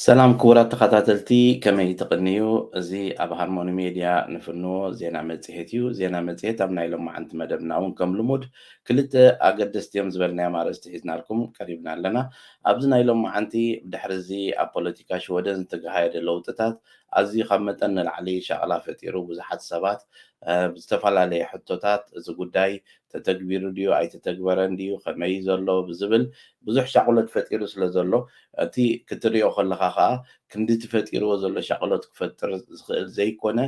ሰላም ክቡራት ተኸታተልቲ ከመይ ትቕንዩ? እዚ ኣብ ሃርሞኒ ሜድያ ንፍንዎ ዜና መጽሔት እዩ። ዜና መጽሔት ኣብ ናይ ሎማዓንቲ መደብና እውን ከም ልሙድ ክልተ ኣገደስቲ እዮም ዝበልናዮም ኣርእስቲ ሒዝናልኩም ቀሪብና ኣለና። ኣብዚ ናይ ሎማዓንቲ ድሕሪ እዚ ኣብ ፖለቲካ ሽወደን ዝተገሃየደ ለውጥታት ኣዝዩ ካብ መጠን ንላዕሊ ሻቕላ ፈጢሩ ብዙሓት ሰባት ብዝተፈላለየ ሕቶታት እዚ ጉዳይ ተተግቢሩ ድዩ ኣይተተግበረን ድዩ ከመይ እዩ ዘሎ ብዝብል ብዙሕ ሻቕሎት ፈጢሩ ስለ ዘሎ እቲ ክትሪኦ ከለኻ ከኣ ክንዲ እቲ ፈጢርዎ ዘሎ ሻቕሎት ክፈጥር ዝኽእል ዘይኮነ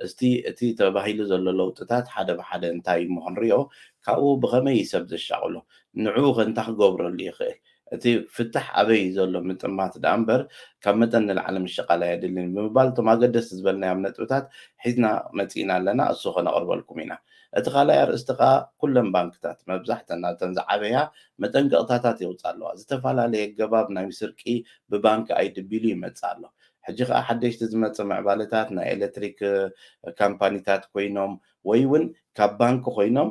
እስቲ እቲ ተባሂሉ ዘሎ ለውጥታት ሓደ ብሓደ እንታይ እሞ ክንሪኦ ካብኡ ብኸመይ እዩ ሰብ ዘሻቕሎ ንዕኡ ከ እንታይ ክገብረሉ ይኽእል እቲ ፍታሕ ኣበይ እዩ ዘሎ ምጥማት ደኣ እምበር ካብ መጠን ንላዕሊ ምሽቓል ኣየድልን እዩ ብምባል እቶም ኣገደስቲ ዝበልናዮም ነጥብታት ሒዝና መጺእና ኣለና እሱ ከነቕርበልኩም ኢና። እቲ ካልኣይ ኣርእስቲ ከኣ ኩለን ባንክታት መብዛሕተን ናብተን ዝዓበያ መጠንቀቕታታት የውጽኣ ኣለዋ። ዝተፈላለየ ኣገባብ ናይ ስርቂ ብባንኪ ኣይድብ ኢሉ ይመጽእ ኣሎ። ሕጂ ከኣ ሓደሽቲ ዝመጽእ ምዕባለታት ናይ ኤለትሪክ ካምፓኒታት ኮይኖም ወይ ውን ካብ ባንኪ ኮይኖም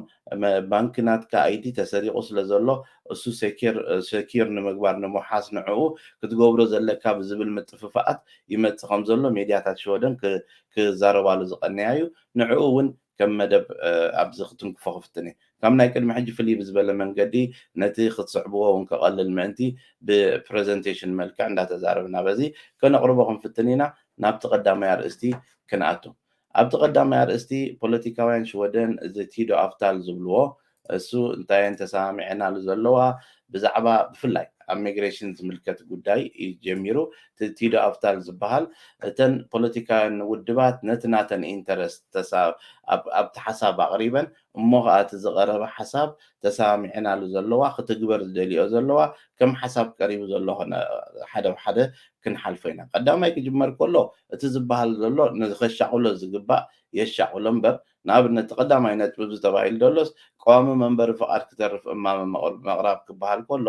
ባንኪ ናትካ ኣይዲ ተሰሪቁ ስለ ዘሎ እሱ ሴኬር ሰኪር ንምግባር ንምውሓስ ንዕኡ ክትገብሮ ዘለካ ብዝብል ምጥፍፋኣት ይመጽ ከም ዘሎ ሜድያታት ሽወደን ክ ክዛረባሉ ዝቀነያ እዩ ንዕኡ ውን ከም መደብ ኣብዚ ክትንክፎ ክፍትን እየ ካብ ናይ ቅድሚ ሕጂ ፍልይ ብዝበለ መንገዲ ነቲ ክትስዕብዎ ውን ከቀልል ምእንቲ ብ ፕረዘንቴሽን መልክዕ እንዳተዛረብና በዚ ከነቅርቦ ክንፍትን ኢና ናብቲ ቀዳማይ ኣርእስቲ ክንኣቱ ኣብቲ ቀዳማይ ኣርእስቲ ፖለቲካውያን ሽወደን እዚ ቲዶ ኣፍታል ዝብልዎ እሱ እንታየን ተሰማሚዐናሉ ዘለዋ ብዛዕባ ብፍላይ ኣብ ሚግሬሽን ዝምልከት ጉዳይ እዩ ጀሚሩ እቲ ቲዶ ኣፍታል ዝበሃል እተን ፖለቲካውያን ውድባት ነቲ ናተን ኢንተረስት ተሳ ኣብ ኣብቲ ሓሳብ ኣቕሪበን እሞ ከኣ እቲ ዝቀረበ ሓሳብ ተሰማሚዐናሉ ዘለዋ ክትግበር ዝደልይኦ ዘለዋ ከም ሓሳብ ቀሪቡ ዘሎ ኮነ ሓደ ብ ሓደ ክንሓልፎ ኢና ቀዳማይ ክጅመር ኮሎ እቲ ዝባሃል ዘሎ ንከሻቁሎ ዝግባእ የሻቁሎ እምበር ንኣብነት እቲ ቀዳማይ ነጥቢ እዚ ተባሂሉ ደሎስ ቀዋሚ መንበሪ ፍቃድ ክተርፍ እማመ መቅራብ ክባሃል ኮሎ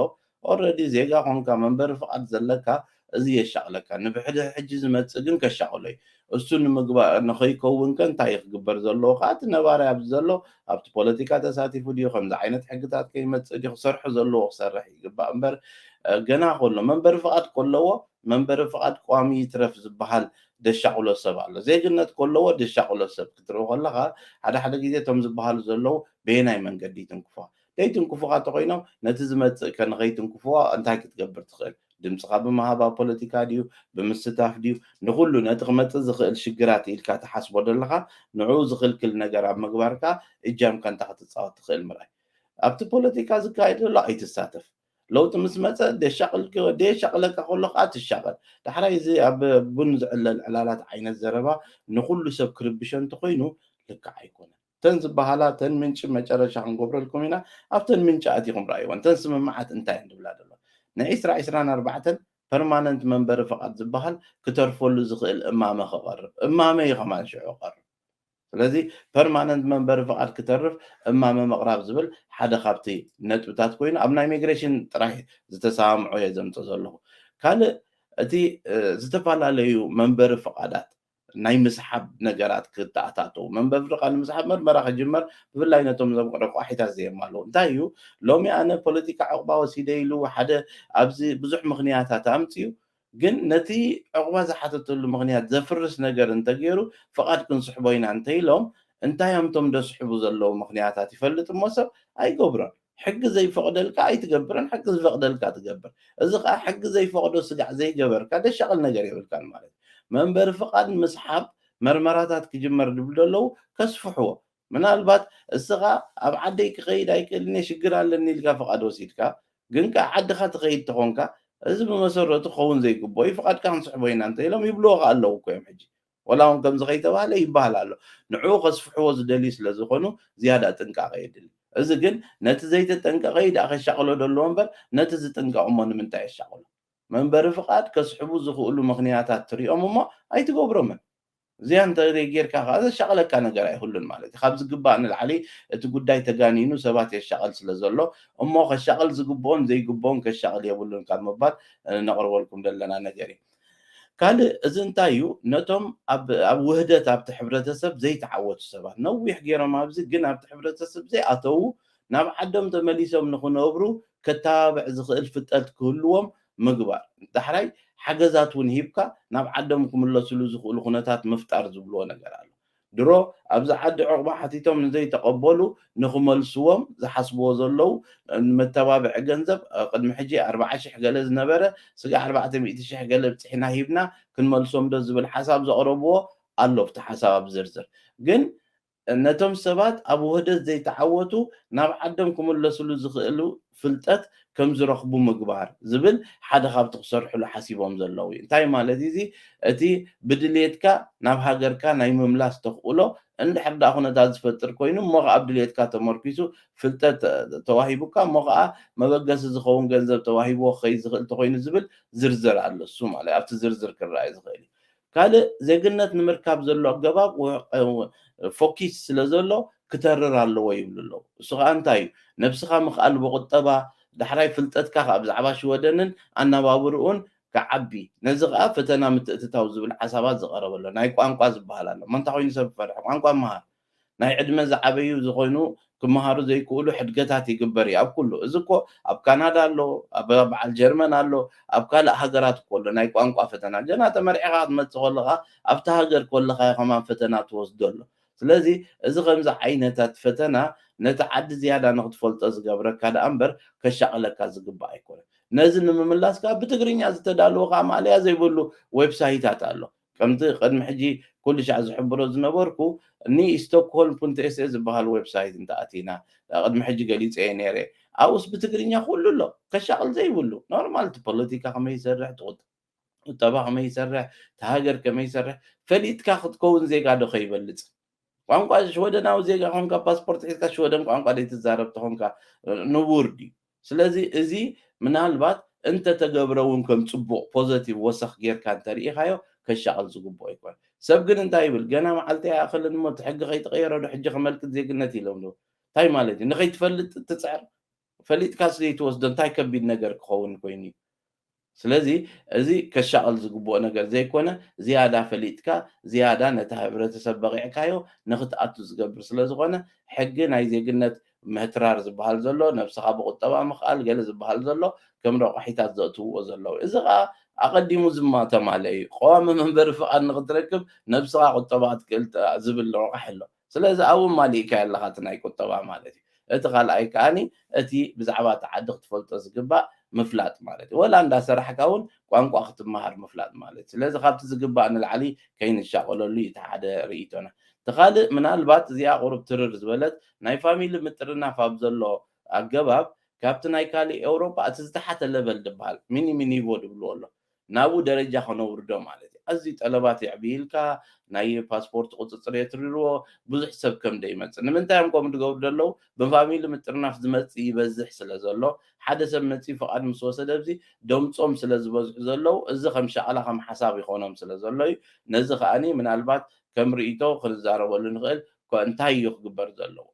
ኦረዲ ዜጋ ኮንካ መንበሪ ፍቃድ ዘለካ እዚ የሻቅለካ ንብሕድሕ ሕጂ ዝመጽእ ግን ከሻቅሎ እዩ እሱ ንምግባእ ንከይከውን ከ እንታይ እዩ ክግበር ዘለዎ ከኣ እቲ ነባራይ ኣብዚ ዘሎ ኣብቲ ፖለቲካ ተሳቲፉ ድዩ ከምዚ ዓይነት ሕግታት ከይመጽእ ድዩ ክሰርሑ ዘለዎ ክሰርሕ ይግባእ እምበር ገና ከሎ መንበሪ ፍቃድ ከለዎ መንበሪ ፍቃድ ቋሚ ይትረፍ ዝበሃል ደሻቅሎ ሰብ ኣሎ ዜግነት ከለዎ ደሻቅሎ ሰብ ክትርኢ ከለካ ሓደ ሓደ ግዜ እቶም ዝበሃሉ ዘለዉ በየናይ መንገዲ ይትንክፏ ከይትንክፉኻ ተኾይኖም ነቲ ዝመጽእ ከ ንኸይትንክፍዎ እንታይ ክትገብር ትኽእል? ድምጽኻ ብምሃብ ኣብ ፖለቲካ ድዩ ብምስታፍ ድዩ ንኹሉ ነቲ ክመጽእ ዝኽእል ሽግራት ኢልካ ትሓስቦ ደለኻ ንዕኡ ዝኽልክል ነገር ኣብ ምግባር ከኣ እጃምካ እንታይ ክትጻወት ትኽእል ምርኣይ ኣብቲ ፖለቲካ ዝካየድ ዘሎ ኣይትሳተፍ ለውጢ ምስ መጸ ደየሻቕለካ ከሎ ከዓ ትሻቐል ዳሕራይ እዚ ኣብ ቡን ዝዕለል ዕላላት ዓይነት ዘረባ ንኹሉ ሰብ ክርብሾ እንተኾይኑ ልክዕ ኣይኮነን እተን ዝበሃላ እተን ምንጪ መጨረሻ ክንገብረልኩም ኢና ኣብተን ምንጪ ኣቲኹም ረኣይወን እተን ስምምዓት እንታይ እየን ዝብላ ዘለዋ ንዒስራ ዒስራን ኣርባዕተን ፐርማነንት መንበሪ ፍቓድ ዝበሃል ክተርፈሉ ዝኽእል እማመ ክቐርብ እማመ እዩ ከማን ሽዑ ክቐርብ ስለዚ ፐርማነንት መንበሪ ፍቓድ ክተርፍ እማመ ምቕራብ ዝብል ሓደ ካብቲ ነጥብታት ኮይኑ ኣብ ናይ ሚግሬሽን ጥራይ ዝተሰማምዖ እየ ዘምፆ ዘለኹ ካልእ እቲ ዝተፈላለዩ መንበሪ ፍቓዳት ናይ ምስሓብ ነገራት ክተኣታተዉ፣ መንበብርካ ንምስሓብ መርመራ ክጅመር፣ ብፍላይ ነቶም እዞም ረቋሒታት ዘየማልኡ። እንታይ እዩ ሎሚ ኣነ ፖለቲካ ዑቕባ ወሲደ ኢሉ ሓደ ኣብዚ ብዙሕ ምኽንያታት ኣምጺኡ፣ ግን ነቲ ዑቕባ ዝሓተተሉ ምኽንያት ዘፍርስ ነገር እንተገይሩ ፍቓድ ክንስሕቦ ኢና እንተኢሎም፣ እንታይ እዮም እቶም ዘስሕቡ ዘለዉ ምኽንያታት ይፈልጥ እሞ ሰብ ኣይገብሮን። ሕጊ ዘይፈቕደልካ ኣይትገብርን ሕጊ ዝፈቕደልካ ትገብር እዚ ከኣ ሕጊ ዘይፈቕዶ ስጋዕ ዘይገበርካ ደሻቕል ነገር የብልካን ማለት እዩ መንበሪ ፍቓድ ምስሓብ መርመራታት ክጅመር ድብሉ ደለዉ ከስፍሕዎ ምናልባት እስኻ ኣብ ዓደይ ክኸይድ ኣይክእልን እየ ሽግር ኣለኒ ኢልካ ፍቓድ ወሲድካ ግን ከኣ ዓድኻ ትኸይድ ተኾንካ እዚ ብመሰረቱ ክኸውን ዘይግብኦ እዩ ፍቓድካ ክንስሕቦ ኢና እንተኢሎም ይብልዎ ከኣ ኣለዉ እኮ እዮም ሕጂ ወላ ውን ከምዚ ከይተባህለ ይበሃል ኣሎ ንዕኡ ከስፍሕዎ ዝደልዩ ስለ ዝኾኑ ዝያዳ ጥንቃቐ የድሊ እዚ ግን ነቲ ዘይተጠንቀቐ ዩ ደኣ ከሻቕሎ ደለዎ እምበር ነቲ ዝጥንቀቕ እሞ ንምንታይ የሻቕሎ መንበሪ ፍቓድ ከስሕቡ ዝኽእሉ ምኽንያታት ትሪኦም እሞ ኣይትገብሮምን እዚኣ እንተ ጌርካ ከኣ ዘሻቕለካ ነገር ኣይህሉን ማለት እዩ ካብ ዝግባእ ንላዕሊ እቲ ጉዳይ ተጋኒኑ ሰባት የሻቕል ስለ ዘሎ እሞ ከሻቕል ዝግብኦን ዘይግብኦን ከሻቕል የብሉን ካብ ምባል ነቕርበልኩም ዘለና ነገር እዩ ካልእ እዚ እንታይ እዩ ነቶም ኣብ ውህደት ኣብቲ ሕብረተሰብ ዘይተዓወቱ ሰባት ነዊሕ ጌሮም ኣብዚ ግን ኣብቲ ሕብረተሰብ ዘይኣተዉ ናብ ዓዶም ተመሊሶም ንኽነብሩ ከታባብዕ ዝኽእል ፍጠልት ክህልዎም ምግባር ዳሕራይ ሓገዛት ውን ሂብካ ናብ ዓዶም ክምለስሉ ዝኽእሉ ኩነታት ምፍጣር ዝብልዎ ነገር ኣሎ። ድሮ ኣብዚ ዓዲ ዑቕባ ሓቲቶም ንዘይተቐበሉ ንኽመልስዎም ዝሓስብዎ ዘለዉ መተባብዒ ገንዘብ ቅድሚ ሕጂ ኣርብዓ ሽሕ ገለ ዝነበረ ስጋዕ ኣርባዕተ ሚእቲ ሽሕ ገለ ብጺሕና ሂብና ክንመልሶምዶ ዝብል ሓሳብ ዘቕረብዎ ኣሎ ኣብቲ ሓሳብ ኣብ ዝርዝር ግን ነቶም ሰባት ኣብ ውህደት ዘይተዓወቱ ናብ ዓዶም ክምለስሉ ዝኽእሉ ፍልጠት ከም ዝረኽቡ ምግባር ዝብል ሓደ ካብቲ ክሰርሕሉ ሓሲቦም ዘለዉ እዩ። እንታይ ማለት እዩ እዚ? እቲ ብድልየትካ ናብ ሃገርካ ናይ ምምላስ ተኽእሎ እንድሕር ደኣ ኩነታት ዝፈጥር ኮይኑ እሞ ከኣ ኣብ ድልየትካ ተመርኲሱ ፍልጠት ተዋሂቡካ እሞ ከኣ መበገሲ ዝኸውን ገንዘብ ተዋሂብዎ ክኸይድ ዝኽእል ተኾይኑ ዝብል ዝርዝር ኣሎ። እሱ ማለት ኣብቲ ዝርዝር ክረኣይ ዝኽእል እዩ። ካልእ ዜግነት ንምርካብ ዘሎ ኣገባብ ፎኪስ ስለ ዘሎ ክተርር ኣለዎ ይብሉ ኣለዉ። እሱ ከኣ እንታይ እዩ? ነብስኻ ምኽኣል ብቑጠባ፣ ዳሕራይ ፍልጠትካ ከኣ ብዛዕባ ሽወደንን ኣነባብርኡን ክዓቢ፣ ነዚ ከኣ ፈተና ምትእትታው ዝብል ሓሳባት ዝቐረበ ኣሎ። ናይ ቋንቋ ዝበሃል ኣሎ። መንታ ኮይኑ ሰብ ክፈርሕ? ቋንቋ ምሃር። ናይ ዕድመ ዝዓበዩ ዝኮይኑ ክመሃሩ ዘይክእሉ ሕድገታት ይግበር እዩ ኣብ ኩሉ እዚ እኮ ኣብ ካናዳ ኣሎ ኣብ በዓል ጀርመን ኣሎ ኣብ ካልእ ሃገራት እኮ ኣሎ ናይ ቋንቋ ፈተና ገና ተመርዒካ ክትመጽእ ከለካ ኣብቲ ሃገር ከለካ ከማን ፈተና ትወስዶ ኣሎ ስለዚ እዚ ከምዚ ዓይነታት ፈተና ነቲ ዓዲ ዝያዳ ንክትፈልጦ ዝገብረካ ደኣ እምበር ከሻቅለካ ዝግባእ ኣይኮነን ነዚ ንምምላስ ከኣ ብትግርኛ ዝተዳለወ ከኣ ማእለያ ዘይብሉ ዌብሳሂታት ኣሎ ከምቲ ቅድሚ ሕጂ ኩሉሻዕ ዝሕብሮ ዝነበርኩ ን ስቶክሆልም ፑንት ኤሰ ዝብሃል ወብሳይት እንተ ኣቲና ቅድሚ ሕጂ ገሊጸዮ ኔረ ኣብኡስ ብትግርኛ ኩሉ ኣሎ ከሻቅል ዘይብሉ ኖርማል እቲ ፖለቲካ ከመይ ይሰርሕ እቲ ቁጠባ ከመይ ይሰርሕ እቲ ሃገር ከመይ ይሰርሕ ፈሊጥካ ክትከውን ዜጋ ዶ ከይበልጽ ቋንቋ ሽወደናዊ ዜጋ ኮንካ ፓስፖርት ሒዝካ ሽወደን ቋንቋ ዘይትዛረብ ተኾንካ ንቡር ድዩ? ስለዚ እዚ ምናልባት እንተተገብረ እውን ከም ጽቡቕ ፖዘቲቭ ወሰኽ ጌርካ እንተርኢኻዮ ከሻቕል ዝግብኦ ኣይኮነን። ሰብ ግን እንታይ ይብል ገና መዓልቲ ኣይኣኸለን እሞ እቲ ሕጊ ከይተቐየረዶ ሕጂ ከመልክት ዜግነት ይለምልም። እንታይ ማለት እዩ ንኸይትፈልጥ ትጽዕር? ፈሊጥካስ ዘይትወስዶ እንታይ ከቢድ ነገር ክኸውን ኮይኑ እዩ ስለዚ እዚ ከሻቕል ዝግብኦ ነገር ዘይኮነ ዝያዳ ፈሊጥካ ዝያዳ ነቲ ሕብረተሰብ በቒዕካዮ ንኽትኣቱ ዝገብር ስለዝኾነ ሕጊ ናይ ዜግነት ምህትራር ዝብሃል ዘሎ ነብስኻ ብቑጠባ ምኽኣል ገለ ዝብሃል ዘሎ ከም ረቋሒታት ዘእትውዎ ዘለዉ እዚ ኸኣ ኣቐዲሙ ዝማተማለ እዩ። ቐዋሚ መንበሪ ፍቓድ ንኽትረክብ ነብስኻ ቑጠባ ክትክእል ዝብል ረቛሒ ኣሎ። ስለዚ ኣብኡ ማሊእካዮ ኣለኻ እቲ ናይ ቁጠባ ማለት እዩ። እቲ ካልኣይ ከኣ እቲ ብዛዕባ እታ ዓዲ ክትፈልጦ ዝግባእ ምፍላጥ ማለት እዩ። ወላ እንዳ ሰራሕካ እውን ቋንቋ ክትመሃር ምፍላጥ ማለት እዩ። ስለዚ ካብቲ ዝግባእ ንላዕሊ ከይንሻቐለሉ እዩ እቲ ሓደ ርእይቶና። እቲ ካልእ ምናልባት እዚኣ ቁሩብ ትርር ዝበለት ናይ ፋሚሊ ምጥርናፍ ኣብ ዘሎ ኣገባብ ካብቲ ናይ ካሊእ ኤውሮጳ እቲ ዝተሓተ ለቨል ድበሃል፣ ሚኒሚ ኒቮ ድብልዎ ኣሎ፣ ናብኡ ደረጃ ከነውርዶ ማለት እዩ። ኣዝዩ ጠለባት የዕብይልካ፣ ናይ ፓስፖርት ቁጽጽር የትርርዎ፣ ብዙሕ ሰብ ከም ደይመጽእ። ንምንታይ እዮም ከምኡ ድገብሩ ደለዉ? ብፋሚሊ ምጥርናፍ ዝመጽእ ይበዝሕ ስለ ዘሎ፣ ሓደ ሰብ መጺኡ ፍቓድ ምስ ወሰደ ኣብዚ ደምጾም ስለ ዝበዝሑ ዘለዉ፣ እዚ ከም ሻቕላ ከም ሓሳብ ይኾኖም ስለ ዘሎ እዩ። ነዚ ከኣ ምናልባት ከም ርእይቶ ክንዛረበሉ ንኽእል፣ እኳ እንታይ እዩ ክግበር ዘለዎ?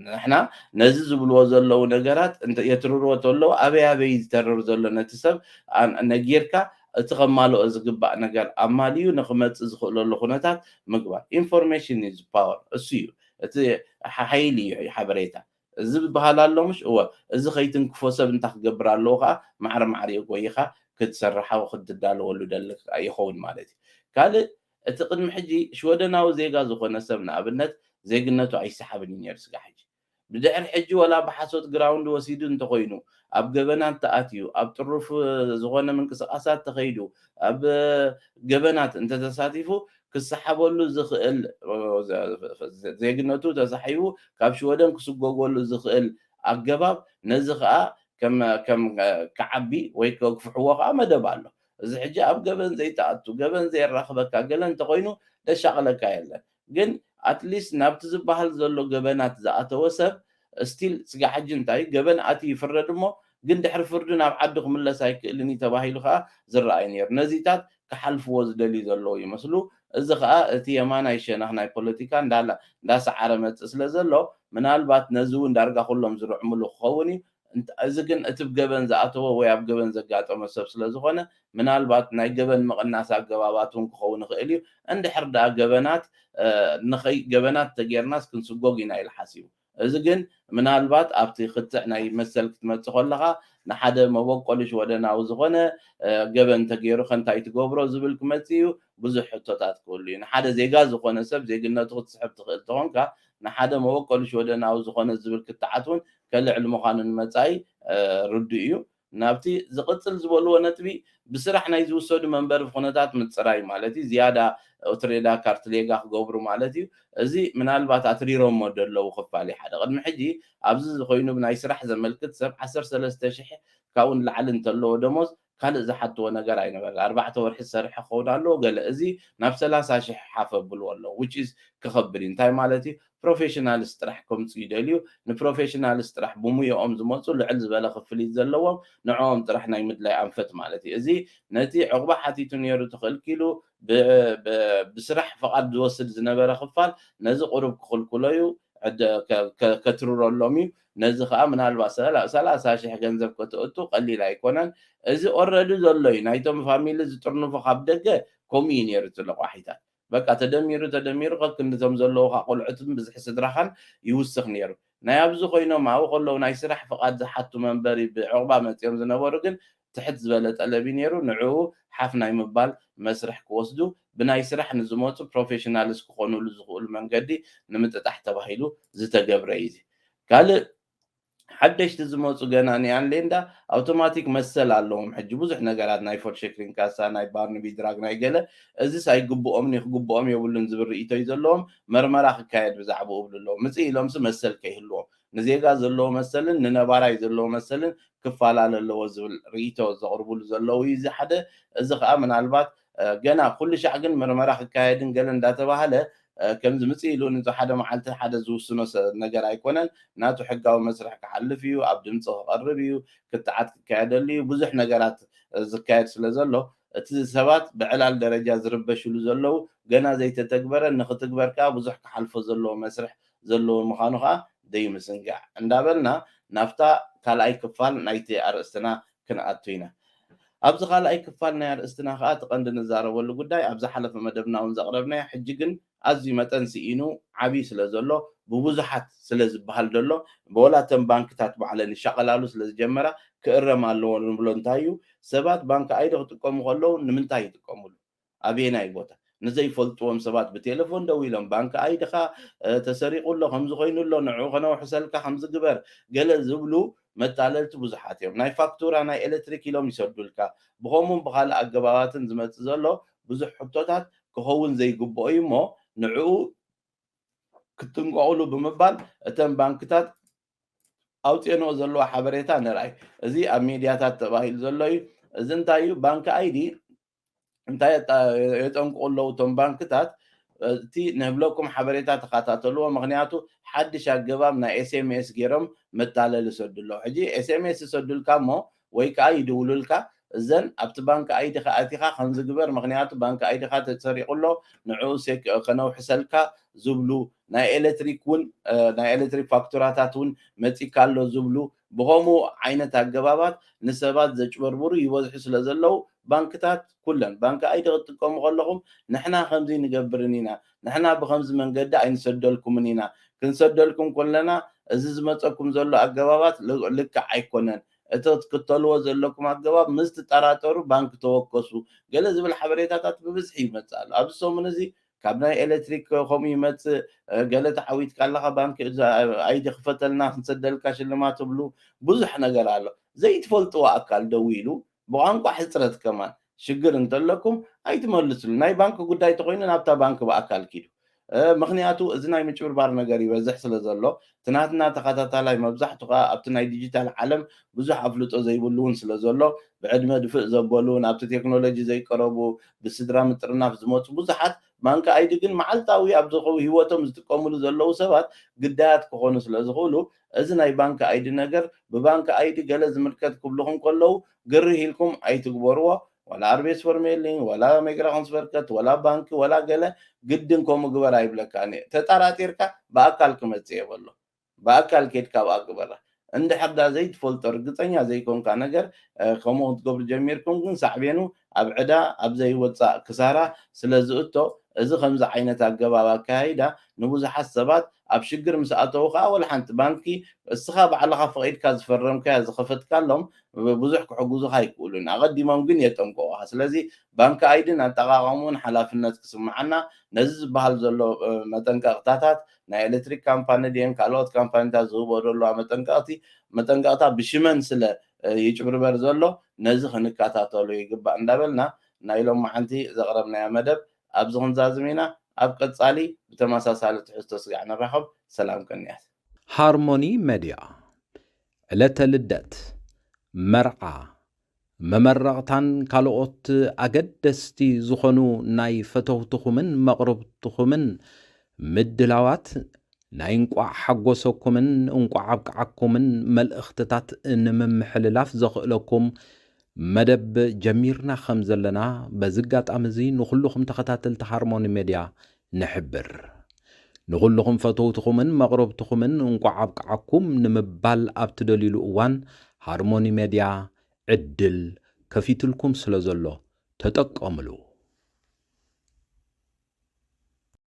ንሕና ነዚ ዝብልዎ ዘለዉ ነገራት እንተ የትርርዎ ተለዉ ኣበይ ኣበይ እዩ ዝተርር ዘሎ ነቲ ሰብ ነጊርካ እቲ ከማልኦ ዝግባእ ነገር ኣማሊኡ ንክመጽእ ዝክእለሉ ኩነታት ምግባር Information is power እሱ እዩ እቲ ሓይሊ እዩ ሓበሬታ ዝብሃል ኣሎ ምሽ እወ እዚ ከይትንክፎ ሰብ እንታይ ክገብር ኣለዎ ከኣ ማዕረ ማዕሪኡ ጎይኻ ክትሰርሓ ክትዳለወሉ ደለክ ይከዉን ማለት እዩ ካልእ እቲ ቅድሚ ሕጂ ሽወደናዊ ዜጋ ዝኾነ ሰብ ንኣብነት ዜግነቱ ኣይሰሓብን እዩ ኔሩ ስጋዕ ሕጂ ብድሕሪ ሕጂ ወላ ብሓሶት ግራውንድ ወሲዱ እንተኾይኑ ኣብ ገበናት ተኣትዩ ኣብ ጥሩፍ ዝኾነ ምንቅስቃሳት ተኸይዱ ኣብ ገበናት እንተተሳቲፉ ክሰሓበሉ ዝኽእል ዜግነቱ ተሳሒቡ ካብ ሽወደን ክስጎጎሉ ዝኽእል ኣገባብ ነዚ ከኣ ከም ከም ክዓቢ ወይ ከግፍሕዎ ከኣ መደብ ኣሎ እዚ ሕጂ ኣብ ገበን ዘይትኣቱ ገበን ዘየራኽበካ ገለ እንተኾይኑ ደሻቕለካ የለን ግን ኣት ሊስት ናብቲ ዝብሃል ዘሎ ገበናት ዝኣተወ ሰብ ስቲል ስጋዕ ሕጂ እንታይ እዩ ገበን ኣትዩ ይፍረድ እሞ ግን ድሕሪ ፍርዱ ናብ ዓዱ ክምለስ ኣይክእልን እዩ ተባሂሉ ከኣ ዝረኣ እዩ ኔሩ ነዚታት ክሓልፍዎ ዝደልዩ ዘለዉ ይመስሉ እዚ ከኣ እቲ የማናይ ሸነኽ ናይ ፖለቲካ እንዳ እንዳ ሰዓረ መጽእ ስለ ዘሎ ምናልባት ነዚ ውን ዳርጋ ኩሎም ዝርዕምሉ ክኸውን እዩ እዚ ግን እቲ ብ ገበን ዝኣተወ ወይ ኣብ ገበን ዘጋጠሞ ሰብ ስለ ዝኾነ ምናልባት ናይ ገበን ምቕናስ ኣገባባት እውን ክኸውን ይኽእል እዩ። እንድሕር ደኣ ገበናት ንኸይ ገበናት ተገይርናስ ክንስጎግ ኢና ኢሉ ሓሲቡ። እዚ ግን ምናልባት ኣብቲ ክትዕ ናይ መሰል ክትመጽእ ከለኻ ንሓደ መበቆሉ ሽወደናዊ ዝኾነ ገበን ተገይሩኸ እንታይ ትገብሮ ዝብል ክመጽእ እዩ። ብዙሕ ሕቶታት ክህሉ እዩ። ንሓደ ዜጋ ዝኾነ ሰብ ዜግነቱ ክትስሕብ ትኽእል ተኾንካ ንሓደ መበቆሉ ሽወደናዊ ዝኾነ ዝብል ክትዓት እውን ከልዕል ምዃኑ ንመጻኢ ርዱእ እዩ። ናብቲ ዝቕጽል ዝበልዎ ነጥቢ፣ ብስራሕ ናይ ዝውሰዱ መንበሪ ኩነታት ምጽራይ ማለት እዩ፣ ዝያዳ ኡትሬዳ ካርትሌጋ ክገብሩ ማለት እዩ። እዚ ምናልባት ኣትሪሮሞ ደለዉ ክፋል እዩ፣ ሓደ ቅድሚ ሕጂ ኣብዚ እዚ ኮይኑ ብናይ ስራሕ ዘመልክት ሰብ ዓሰርተ ሰለስተ ሽሕ ካብኡ ንላዕሊ እንተለዎ ደሞዝ፣ ካልእ ዝሓትዎ ነገር ኣይነበረን ኣርባዕተ ወርሒ ዝሰርሐ ክኸውን ኣለዎ ገለ እዚ ናብ ሰላሳ ሽሕ ሓፍ ኣብልዎ ኣለዉ which is ክኸብድ እዩ እንታይ ማለት እዩ ፕሮፌሽናልስ ጥራሕ ከምጹ ይደልዩ ንፕሮፌሽናልስ ጥራሕ ብሙዮኦም ዝመጹ ልዕል ዝበለ ክፍሊት ዘለዎም ንዕኦም ጥራሕ ናይ ምድላይ ኣንፈት ማለት እዩ እዚ ነቲ ዕቑባ ሓቲቱ ኔሩ ተኸልኪሉ ብስራሕ ፍቓድ ዝወስድ ዝነበረ ክፋል ነዚ ቁሩብ ክኽልክሎ እዩ ከትርረሎም እዩ ነዚ ከኣ ምናልባት ሰላሳ ሽሕ ገንዘብ ከተእቱ ቀሊል ኣይኮነን እዚ ኦረዲ ዘሎ እዩ ናይቶም ፋሚሊ ዝጥርንፎ ካብ ደገ ከምኡ እዩ ኔሩ እቲ ለቋሒታት በቃ ተደሚሩ ተደሚሩ ከክንዲ እቶም ዘለዉካ ቆልዑትን ብዝሒ ስድራካን ይውስክ ኔሩ ናይ ኣብዚ ኮይኖም ኣብኡ ከለዉ ናይ ስራሕ ፍቃድ ዝሓቱ መንበሪ ብዕቁባ መጽዮም ዝነበሩ ግን ትሕት ዝበለ ጠለብ እዩ ነይሩ፣ ንዕኡ ሓፍ ናይ ምባል መስርሕ ክወስዱ ብናይ ስራሕ ንዝመፁ ፕሮፌሽናልስ ክኾኑሉ ዝኽእሉ መንገዲ ንምጥጣሕ ተባሂሉ ዝተገብረ እዩ እዚ። ካልእ ሓደሽቲ ዝመፁ ገና ኒኣንሌንዳ ኣውቶማቲክ መሰል ኣለዎም ሕጂ ብዙሕ ነገራት ናይ ፎርሸክሪን ካሳ፣ ናይ ባርንቢ ድራግ ናይ ገለ፣ እዚስ ኣይግብኦምን እዩ ክግብኦም የብሉን ዝብል ርኢቶ እዩ ዘለዎም፣ መርመራ ክካየድ ብዛዕብኡ እብሉ ኣለዉ፣ ምፅእ ኢሎምሲ መሰል ከይህልዎም። ንዜጋ ዘለዎ መሰልን ንነባራይ ዘለዎ መሰልን ክፋላለ ኣለዎ ዝብል ርኢቶ ዘቕርቡሉ ዘለዉ እዩ እዚ ሓደ። እዚ ከኣ ምናልባት ገና ኩሉ ሻዕ ግን ምርመራ ክካየድን ገለ እንዳተባህለ ከምዚ ምጽእ ኢሉ ንዚ ሓደ መዓልቲ ሓደ ዝውስኖ ነገር ኣይኮነን። ናቱ ሕጋዊ መስርሕ ክሓልፍ እዩ፣ ኣብ ድምጺ ክቐርብ እዩ፣ ክትዓት ክካየደሉ እዩ፣ ብዙሕ ነገራት ዝካየድ ስለ ዘሎ እቲ ሰባት ብዕላል ደረጃ ዝርበሽሉ ዘለዉ ገና ዘይተተግበረ ንኽትግበር ከኣ ብዙሕ ክሓልፎ ዘለዎ መስርሕ ዘለዎ ምዃኑ ከኣ ደይምዝንጋዕ። እንዳበልና ናብታ ካልኣይ ክፋል ናይቲ ኣርእስትና ክንኣቱ ኢና። ኣብዚ ካልኣይ ክፋል ናይ ኣርእስትና ከኣ እቲ ቀንዲ ንዛረበሉ ጉዳይ ኣብ ዝሓለፈ መደብናውን ዘቕረብናዮ ሕጂ ግን ኣዝዩ መጠን ስኢኑ ዓብይ ስለ ዘሎ ብብዙሓት ስለ ዝበሃል ዘሎ ወላ እተን ባንክታት ባዕለን ይሻቐላሉ ስለ ዝጀመራ ክእረም ኣለዎ ንብሎ እንታይ እዩ ሰባት ባንኪ ኣይዲ ክጥቀሙ ከለዉ ንምንታይ ይጥቀምሉ ኣበየናይ ቦታ? ንዘይፈልጥዎም ሰባት ብቴለፎን ደዊሎም ባንክ ኣይድኻ ተሰሪቑ ኣሎ፣ ከምዚ ኮይኑ ኣሎ፣ ንዕኡ ከነውሕሰልካ ከምዚ ግበር ገለ ዝብሉ መታለልቲ ብዙሓት እዮም። ናይ ፋክቱራ፣ ናይ ኤለትሪክ ኢሎም ይሰዱልካ። ብኸምኡን ብኻልእ ኣገባባትን ዝመጽእ ዘሎ ብዙሕ ሕቶታት ክኸውን ዘይግብኦ እዩ እሞ ንዕኡ ክትጥንቀቑሉ ብምባል እተን ባንክታት ኣውጺኤንኦ ዘለዋ ሓበሬታ ንርኣይ። እዚ ኣብ ሚድያታት ተባሂሉ ዘሎ እዩ። እዚ እንታይ እዩ ባንክ ኣይዲ እንታይ የጠንቅቑ ኣለዉ እቶም ባንክታት እቲ ንህብለኩም ሓበሬታ ተኸታተልዎ ምክንያቱ ሓድሽ ኣገባብ ናይ ኤስኤምኤስ ገይሮም መታለሊ ይሰዱ ኣለዉ ሕጂ ኤስኤምኤስ ይሰዱልካ እሞ ወይ ከዓ ይድውሉልካ እዘን ኣብቲ ባንኪ ኣይዲኻ ኣቲኻ ከምዚ ግበር ምክንያቱ ባንኪ ኣይዲኻ ተሰሪቑ ኣሎ ንዕኡ ከነውሕሰልካ ዝብሉ ናይ ኤሌክትሪክ እውን ናይ ኤሌክትሪክ ፋክቱራታት እውን መፂካ ኣሎ ዝብሉ ብኸምኡ ዓይነት ኣገባባት ንሰባት ዘጭበርብሩ ይበዝሑ ስለ ዘለዉ፣ ባንክታት ኩለን፣ ባንኪ ኣይዲ ክትጥቀሙ ከለኹም ንሕና ከምዚ ኣይንገብርን ኢና፣ ንሕና ብኸምዚ መንገዲ ኣይንሰደልኩምን ኢና፣ ክንሰደልኩም ከለና እዚ ዝመጸኩም ዘሎ ኣገባባት ልክዕ ኣይኮነን፣ እቲ ክትክተልዎ ዘለኩም ኣገባብ ምስ ትጠራጠሩ ባንኪ ተወከሱ፣ ገለ ዝብል ሓበሬታታት ብብዝሒ ይመጽእ ኣሎ። ኣብዚ ሰሙን እዚ ካብ ናይ ኤለትሪክ ከምኡ ይመጽእ ገለ ተዓዊትካ ኣለኻ ባንኪ ኣይዲ ክፈተልና ክንሰደልካ ሽልማት ትብሉ ብዙሕ ነገር ኣሎ ዘይትፈልጥዎ ኣካል ደዊሉ ብቋንቋ ሕጽረት ከማን ሽግር እንተለኩም ኣይትመልስሉ ናይ ባንኪ ጉዳይ ተኾይኑ ናብታ ባንኪ ብኣካል ኪዱ ምኽንያቱ እዚ ናይ ምጭብርባር ነገር ይበዝሕ ስለ ዘሎ እቲ ናትና ተኸታታላይ መብዛሕቱ ከኣ ኣብቲ ናይ ዲጂታል ዓለም ብዙሕ ኣፍልጦ ዘይብሉ ውን ስለ ዘሎ ብዕድመ ድፍእ ዘበሉ ናብቲ ቴክኖሎጂ ዘይቀረቡ ብስድራ ምጥርናፍ ዝመጹ ብዙሓት ማንኪ ኣይዲ ግን መዓልታዊ ኣብ ሂወቶም ዝጥቀምሉ ዘለዉ ሰባት ግዳያት ክኾኑ ስለ ዝኽእሉ እዚ ናይ ባንኪ ኣይዲ ነገር ብባንኪ ኣይዲ ገለ ዝምልከት ክብሉኹም ከለዉ ግርህ ኢልኩም ኣይትግበርዎ ዋላ ኣርቤትስፈርሜሊንግ ዋላ ሜግራውንስቨርከት ዋላ ባንኪ ዋላ ገለ ግድን ከምኡ ግበር ኣይብለካን እየ ተጣራጢርካ ብኣካል ክመጽእ እየ በሎ ብኣካል ኬድካ ኣብኣ ግበራ እንድሕር ዳ ዘይትፈልጦ ርግጸኛ ዘይኮንካ ነገር ከምኡ ክትገብሩ ጀሚርኩም ግን ሳዕቤኑ ኣብ ዕዳ ኣብ ዘይወጻእ ክሳራ ስለ ዝእቶ እዚ ከምዚ ዓይነት ኣገባብ ኣከያይዳ ንብዙሓት ሰባት ኣብ ሽግር ምስ ኣተዉ ከኣ ወላ ሓንቲ ባንኪ እስኻ ባዕልኻ ፈቒድካ ዝፈረምካያ ዝኸፈትካሎም ብዙሕ ክሕግዙኻ ኣይክእሉን፣ ኣቐዲሞም ግን የጠንቅቑኻ። ስለዚ ባንክ ኣይዲን ኣጠቓቕምኡን ሓላፍነት ክስምዓና፣ ነዚ ዝበሃል ዘሎ መጠንቀቕታታት ናይ ኤለትሪክ ካምፓኒ ድየን ካልኦት ካምፓኒታት ዝህብኦ ዘለዋ መጠንቀቕቲ መጠንቀቕታ ብሽመን ስለ ይጭብርበር ዘሎ ነዚ ክንከታተሎ ይግባእ እንዳበልና ናይ ሎማዓንቲ ዘቕረብናዮ መደብ ኣብዚ ክንዛዝም ኢና። ኣብ ቀጻሊ ብተመሳሳሊ ትሕዝቶ ስጋዕ ንራኸብ። ሰላም ቅንያት። ሃርሞኒ መድያ ዕለተ ልደት፣ መርዓ፣ መመረቕታን ካልኦት ኣገደስቲ ዝኾኑ ናይ ፈተውትኹምን መቕርብትኹምን ምድላዋት ናይ እንቋዕ ሓጎሰኩምን እንቋዕ ኣብቅዓኩምን መልእኽትታት ንምምሕልላፍ ዘኽእለኩም መደብ ጀሚርና ከምዘለና በዚ ኣጋጣሚ እዚ ንኹሉኹም ተኸታተልቲ ሃርሞኒ ሜድያ ንሕብር። ንኹሉኹም ፈተውትኹምን መቕረብትኹምን እንቋዕ ኣብቅዓኩም ንምባል ኣብ ትደልዩሉ እዋን ሃርሞኒ ሜድያ ዕድል ከፊትልኩም ስለዘሎ ተጠቀምሉ።